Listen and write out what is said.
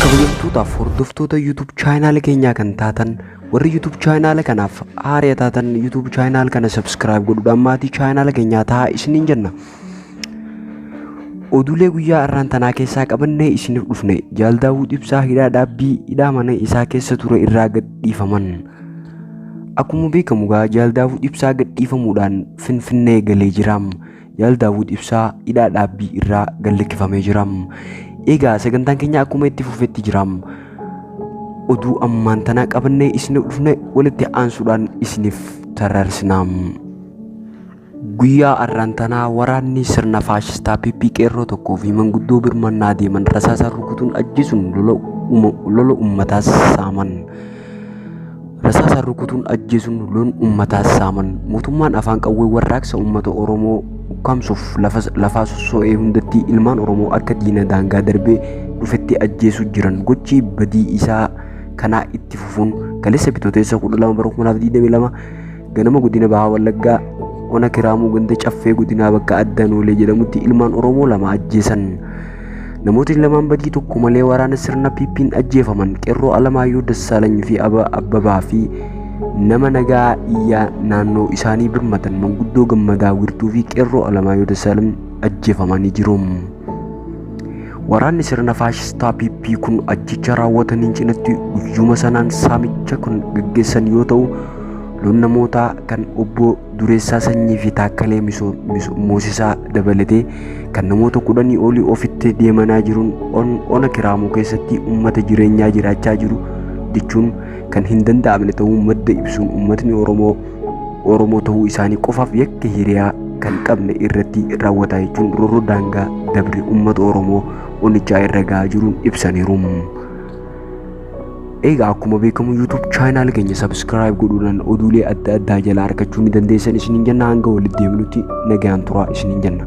kabajamtootaaf hordoftoota YouTube chaayinaala keenyaa kan taatan warri YouTube chaayinaala kanaaf haara taatan YouTube chaayinaala kana subscribe godhuudhaan maatii chaayinaala keenyaa ta'a isiniin jenna. Oduulee guyyaa har'aan tanaa keessaa qabannee isiniif dhufne jaal Daawud Ibsaa hidhaa dhaabbii hidhaa mana isaa keessa ture irraa gad dhiifaman. Akkuma beekamu egaa Jaal Daawud Ibsaa gadhiifamuudhaan Finfinnee galee jira. Jaal Daawud Ibsaa hidhaa dhaabbii irraa gad lakkifamee jira. Egaa sagantaan keenya akkuma itti fufetti jira. Oduu ammaan tanaa qabannee isiniif dhufne walitti aansuudhaan isiniif tarrarsina. Guyyaa arraan tanaa waraanni sirna faashistaa PP qeerroo tokkoo fi manguddoo birmannaa deeman rasaasaan rukutuun ajjeesuun lola uma- lola ummataas saaman. Rasaasaan rukutuun ajjeesuun loon ummataas saaman. Mootummaan afaan qawwee warraaqsa ummata Oromoo ukkaamsuuf lafa lafaa sosso'ee hundatti ilmaan Oromoo akka diina daangaa darbee dhufetti ajjeesuu jiran gochi badii isaa kanaa itti fufuun kaleessa bitooteessa 12 bara 2022 Ganama godina Bahaa Wallaggaa ona Kiraamuu ganda Caffee godinaa bakka adda Noolee jedhamutti ilmaan Oromoo lama ajjeesan. Namootni lamaan badii tokko malee waraana sirna PP'n ajjeefaman qeerroo Alamaayyoo Dassaalany fi Aba Abbabaa fi nama nagaa iyyaa naannoo isaanii birmatan manguddoo gammadaa wirtuu fi qeerroo Alamaayyoo Dassaalany ajjeefamanii jiru. Waraanni sirna faashistaa PP kun ajjecha raawwataniin cinatti guyyuma sanaan saamicha kan gaggeessan yoo ta'u Loon namootaa kan obbo Dureessaa Sanyii fi Taakkalee Moosisaa dabalatee kan namoota kudhanii olii ofitti deemanaa jiruun ona Kiraamuu keessatti uummata jireenyaa jiraachaa jiru jechuun kan hin danda'amne ta'uu madda ibsuun uummatni Oromoo Oromoo ta'uu isaanii qofaaf yakka hiriyaa kan qabne irratti raawwataa jechuun rorroo daangaa dabre uummata Oromoo onichaa irra gahaa jiruun ibsaniiru. Egaa akkuma beekamu YouTube chaayinaal keenya subscribe godhuudhaan oduulee adda addaa jalaa argachuu ni dandeessan isiniin jenna hanga walitti deebinutti nagaan turaa isiniin jenna.